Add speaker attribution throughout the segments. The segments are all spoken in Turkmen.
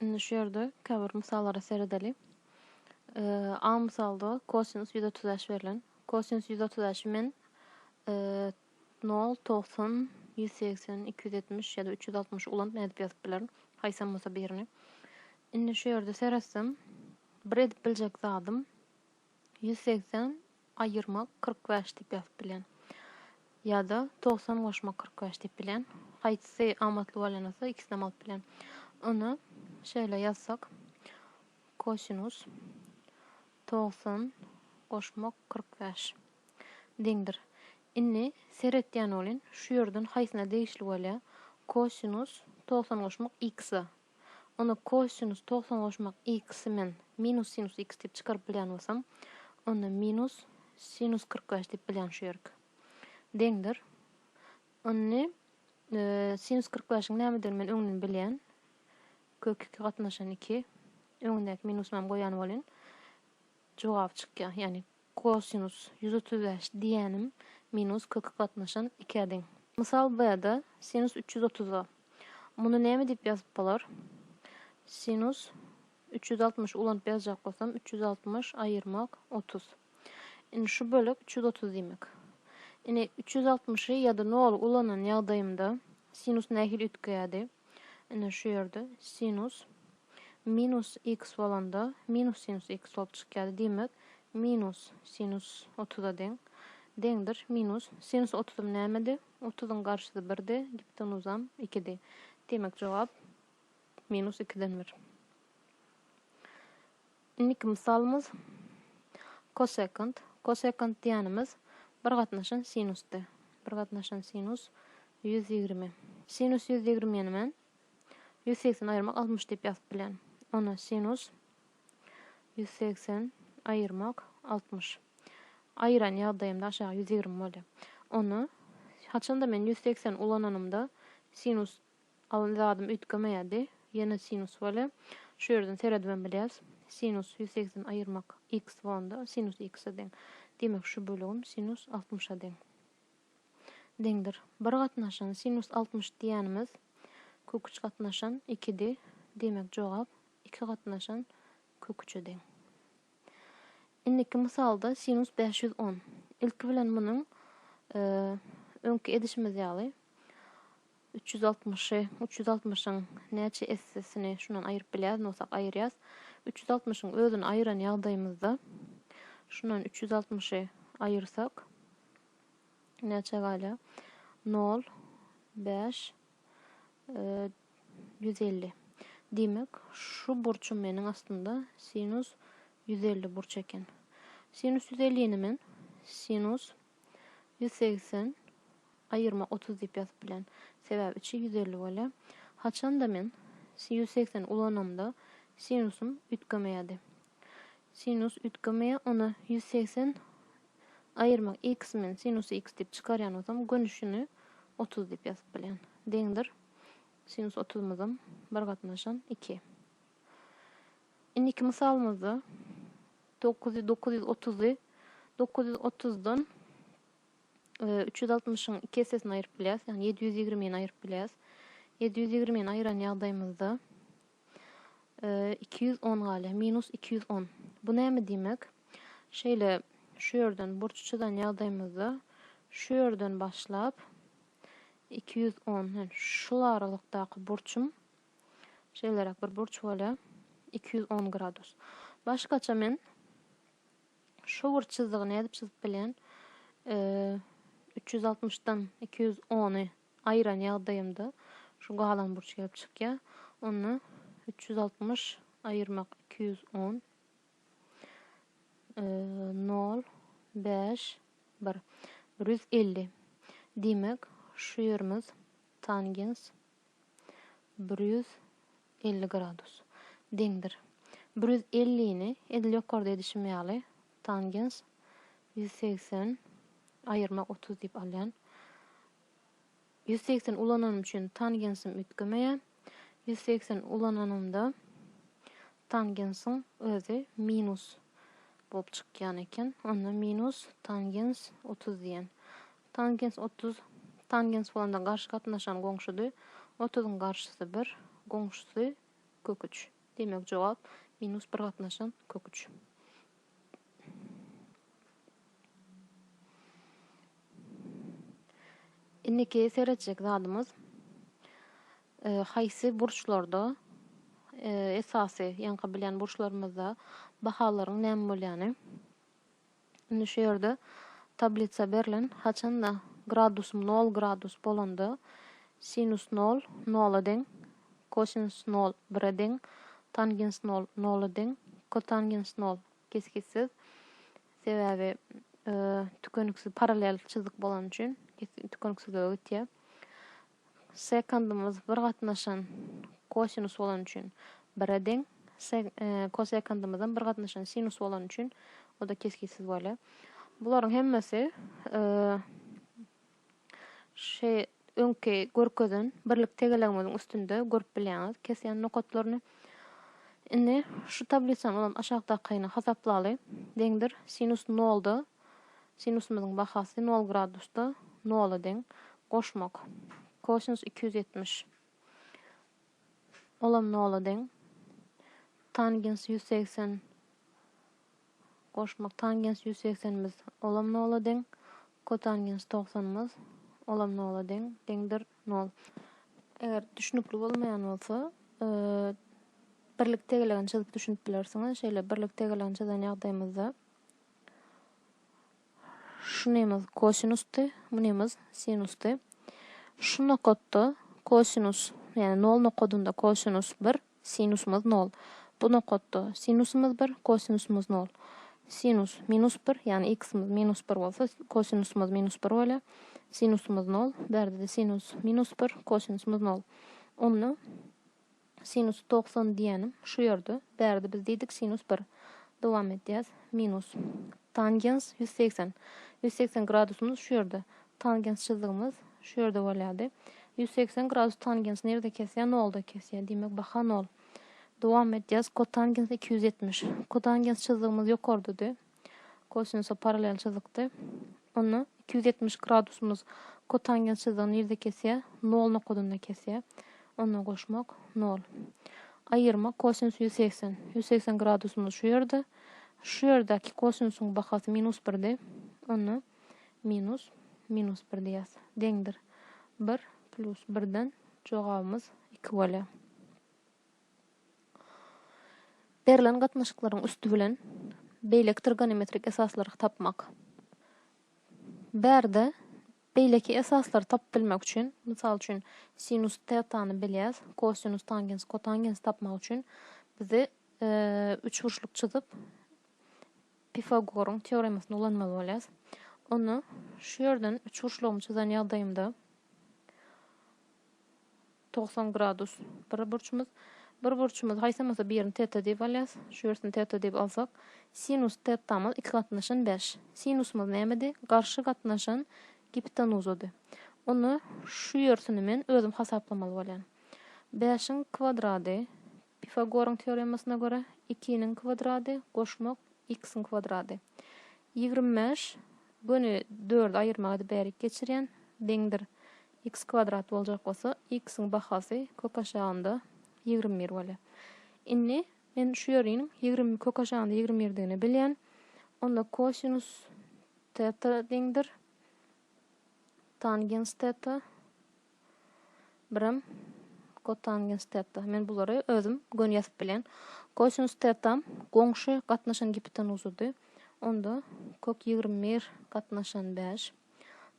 Speaker 1: Indi şu ýerde käbir mysallara seredeliň. A mysalda kosinus ýüz otuz bäş berlen. Kosinus ýüz otuz bäşi men nol, togsan, ýüz segsen, iki ýüz ýetmiş ýa-da üç ýüz altmyş ulanyp nädip ýazyp bilerin? Haýsam bolsa birini. Indi şu ýerde seretsem, bir edip biljek zadym Ýüz segsen aýyrmak kyrk bäş diýip ýazyp bilýän. Ýa-da togsan goşmak kyrk bäş diýip bilýän. Haýsysy amatly bolýan bolsa, ikisinem alyp bilýän. Ony şeýle ýazsak, kosinus togsan goşmak kyrk bäş deňdir. Indi seretýän bolyn, şu ýerden haýsyna degişli bolýar? Kosinus togsan goşmak x-a. Onda kosinus togsan goşmak x-i men minus sinus x diýip çykaryp bilýän bolsam, onda minus sinus kyrk bäş diýip bilýän şu ýerik. Deňdir. Indi sinus kyrk bäşiň nämedigini men öňden bilýän. Kök iki gatnaşan iki. Öňündäki minusymam goýan bolýan. Jogap çykýar. Ýagny kosinus ýüz otuz bäş diýýänim minus köki gatnaşan ikä deň. Mysal B-de sinus üç ýüz otuz bar. Muny näme diýip ýazyp bolar? Sinus üç ýüz altmyş ulanyp ýazjak bolsam, üç ýüz altmyş aýyrmak otuz. Indi şu bölek üç ýüz otuz diýmek. Indi üç ýüz altmyşy ýa-da noly ulanan ýagdaýymda sinus nähili üýtgeýärdi? Ine şu ýerde sinus minus x bolanda minus sinus x bolup çykýardy. Diýmek, minus sinus otuza deň. Deňdir minus sinus otuzym nämedi? Otuzyň garşysy birdi, giptenuzam ikidi. Diýmek, jogap minus ikiden bir. Indiki mysalymyz kosekant. Kosekant diýýänimiz bir gatnaşan sinusdy. Bir gatnaşan sinus ýüz ýigrimi. Sinus ýüz ýigrimini men ýüz segsen aýyrmak altmyş diýip ýazyp bilýän. Onda sinus ýüz segsen aýyrmak altmyş. Aýyran ýagdaýymda aşagy ýüz ýigrimi bolýar. Onda haçanda men ýüz segsen ulananymda sinus Alan zadym üýtgemeýärdi. Ýene sinus welin, şu ýerden seredibem bilýäris. Sinus ýüz segsen aýyrmak x bolanda, sinus x-e deň. Diýmek, şu bölegim sinus altmyşa deň. Deňdir. Bir gatnaşan sinus altmyş diýýänimiz kök üç gatnaşan ikidi. Diýmek, jogap iki gatnaşan kök üçe deň. Indiki mysalda sinus bäş ýüz on. Ilki bilen munuň öňki edişimiz ýaly, Üç ýüz altmyşy, üç ýüz altmyşyň näçe essesini şundan aýryp bilýäs, nosak aýyrýas. Üç ýüz altmyşyň özüni aýyran ýagdaýymyzda, şundan üç ýüz altmyşy aýyrsak, näçe galýar? Nol, bäş, ýüz elli. Diýmek, şu burçum meniň aslynda sinus ýüz elli burç eken. Sinus ýüz ellini men sinus Ýüz segsen, aýyrma otuz diýip ýazyp bilen. Sebäbi üçi ýüz elli bolýa. Haçanda men ýüz segsen ulanamda sinusym üýtgemeýädi. Sinus üýtgemeýä, onda ýüz segsen aýyrma x men sinus x diýip çykarýan bolsam gönüşini otuz diýip ýazyp bilýän. Deňdir. Sinus otuzymyzam bir gatnaşan iki. Indiki mysalymyzda dokuz ýüz dokuz ýüz otuzy dokuz ýüz otuzdan üç ýüz altmyşyň iki essesini aýyryp bilýäs, ýagny ýedi ýüz ýigrimini aýyryp bilýäs. Ýedi ýüz ýigrimini aýyran ýagdaýymyzda iki ýüz on galýar, minus iki ýüz on. Bu näme diýmek? Şeýle şu ýerden burç çyzan ýagdaýymyzda şu ýerden başlap iki ýüz on, şul aralykdaky burçum Şeýleräk bir burç bolýar. Iki ýüz on gradus. Başgaça men şu burç çyzdygyny edip çyzyp bilýän. Üç ýüz altmyşdan iki ýüz ony aýyran ýagdaýymda şu galan burç gelip çykýar. Onda üç ýüz altmyş aýyrmak iki ýüz on. Nol, bäş, bir. Bir ýüz elli. Diýmek, şu ýerimiz tangens bir ýüz elli gradus, deňdir. Bir ýüz ellini, edil ýokarda edişim ýaly, tangens ýüz segsen, aýyrma otuz diýip alýan. Ýüz segsen ulananym üçin tangensim üýtgemeýär. Ýüz segsen ulananymda tangensiň özi minus bolup çykýan eken. Onda minus tangens otuz diýen. Tangens otuz, Tangens bolanda garşy gatnaşan goňşudy, otuzyň garşysy bir, goňşusy, kök üç. Diýmek jogap, minus bir gatnaşan, kök üç. Indiki seretjek zadymyz, haýsy burçlarda, esasy ýaňky bilen burçlarymyzda bahalaryň näme bolýany. Indi şu ýerde tablitsa berlen, haçanda gradusym nol gradus bolanda, sinus nol, nola deň, kosinus nol, bire deň, tangens nol, nola deň, kotangens nol, kesgitsiz, sebäbi tükeniksiz parallel çyzyk bolany üçin, tükeniksizlige gitýär. Sekundymyz bir gatnaşan kosinus bolany üçin bire deň. Kosekundymyzam bir gatnaşan sinus bolany üçin o-da kesgitsiz bolýar. Bularyň hemmesi şu öňki görkezen birlik tegelegimiziň üstünde görüp bilýäňiz kesýän nokatlaryny. Indi şu tablisany bolan aşakdakyny hasaplaly. Deňdir sinus nolda Sinusymyzyň bahasy nol gradusda nola deň. Goşmak. Kosinus iki ýüz ýetmiş. Olam nola deň. Tangens ýüz segsen. Goşmak. Tangens ýüz segsenimiz olam nola deň. Kotangens togsanymyz olam nola deň. Deňdir nol. Eger düşünikli bolmaýan bolsa, birlik tegelegini çyzyp düşünip bilersiňiz. Şeýle birlik tegelegini çyzan ýagdaýymyzda Şu nemys kosinusdy, bu nemys sinusdy. Şu nokatda kosinus, ýagny nol nokadynda kosinus bir, sinusymyz nol. Bu nokatda sinusymyz bir, kosinusymyz nol. Sinus minus bir, ýagny x-imiz minus bir bolsa, kosinusymyz minus bir bolýar. Sinusymyz nol. Bu ýerde-de sinus minus bir, kosinusymyz nol. Onda Sinus togsan diýýänim şu ýerde. Bärde biz diýdik sinus bir. Dowam edýäs. Minus. Tangens ýüz segsen. Ýüz segsen gradusymyz şu ýerde. Tangens çyzdygymyz şu ýerde bolýardy. Ýüz segsen gradus tangens nirde kesýär? Nolda kesýär. Diýmek, baha nol. Dowam edýäs. Kotangens iki ýüz ýetmiş. Kotangens çyzdygymyz ýokardady. Kosinosa parallel çyzykdy. Onda iki ýüz ýetmiş gradusymyz kotangens çyzygy nirde kesýär? Nol nokadynda kesýär. Onda goşmak, nol. Aýyrma, kosinus ýüz segsen. Ýüz segsen gradusymyz şu ýerde. Şu ýerdäki kosinusyň bahasy minus birdi. Onda minus, minus bir diýýäs. Deňdir. Bir, plus birden jogabymyz iki bolýar. Berlen gatnaşyklaryň üsti bilen beýlekidir gonimetrik esaslary tapmak. Bärde beýleki esaslary tapyp bilmek üçin, mysal üçin, sinus tetany bilýäs, kosinus, tangens, kotangensi tapmak üçin bizi üçburçluk çyzyp, Pifagoryň teoremasyny ulanmaly bolýas. Onda şu ýerden üçburçlugymy çyzan ýagdaýymda Togsan gradus bir burçumyz. Bir burçumyz haýsam bolsa birini teta diýip alýas. Şu birsini teta diýip alsak. Sinus tetamyz iki gatnaşan bäş. Sinusymyz nämedi? Garşy gatnaşan gipitanuzady. Onda şu birsini men özüm hasaplamaly bolýan. Bäşiň kwadrady, Pifagoryň teoremasyna görä, ikiniň kwadrady goşmak x-iň kwadrady. Ýigrimi bäş, göni dördi aýyrmak edip bärik geçirýän, deňdir. X kwadrat boljak bolsa, X-iň bahasy kök aşagynda ýigrimi bir bolýar. Indi men şu ýeriniň ýigrimi kök aşagynda ýigrimi birdigini bilýän. Onda kosinus teta deňdir. Tangens teta. Birem kotangens teta. Men bulary özüm göni ýazyp bilýän. Kosinus tetam goňşy gatnaşan gipotenuzydy. Onda kök ýigrimi bir gatnaşan bäş.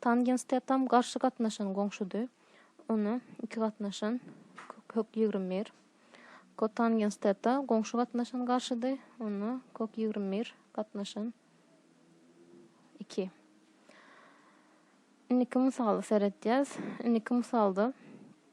Speaker 1: Tangens tetam garşy gatnaşan goňşudy. Ony iki gatnaşan kök kök ýigrimi bir. Kotangens teta goňşy gatnaşan garşydy. Ony kök ýigrimi bir gatnaşan iki. Indiki mysaly seredýäs. Indiki mysalda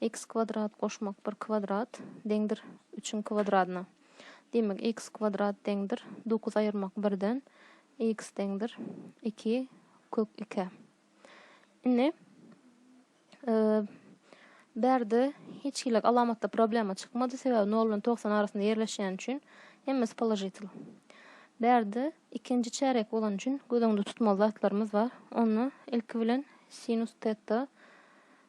Speaker 1: X kwadrat goşmak bir kwadrat deňdir üçiň kwadradyna. Diýmek, x kwadrat deňdir dokuz aýyrmak birden x deňdir iki kök ikä. Indi bärde hiç hili alamatda problema çykmady, sebäbi nol bilen togsan arasynda ýerleşýän üçin hemmesi položitel. Bärde ikinji çärek bolan üçin göz öňünde tutmaly zatlarymyz bar. Onda ilki bilen sinus teta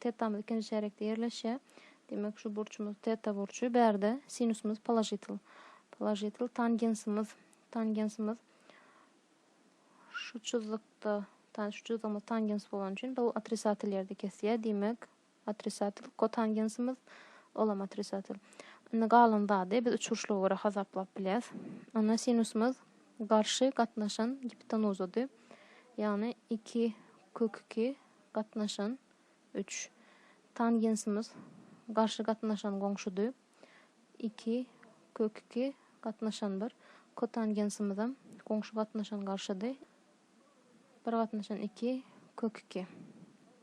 Speaker 1: Tetamyz ikinji çärekde ýerleşýär. Diýmek, şu burçumyz teta burçy. Bärde sinusymyz položitel. Položitel tangensimiz. Tangensimiz şu çyzykda, ta şu çyzygymyz tangens bolany üçin bu otrisatel ýerde kesýär. Diýmek, otrisatel kotangensimiz olam otrisatel. Indi galan zady biz üçburçluga görä hasaplap bilýäs. Onda sinusymyz garşy gatnaşan giptenuzydy. Ýagny 2 kök 2 Gatnaşan, üç. Tangensimiz, garşy gatnaşan goňşudy, iki, kök iki, gatnaşan bir. Kotangensimizem, goňşy gatnaşan garşydy, bir gatnaşan iki, kök iki.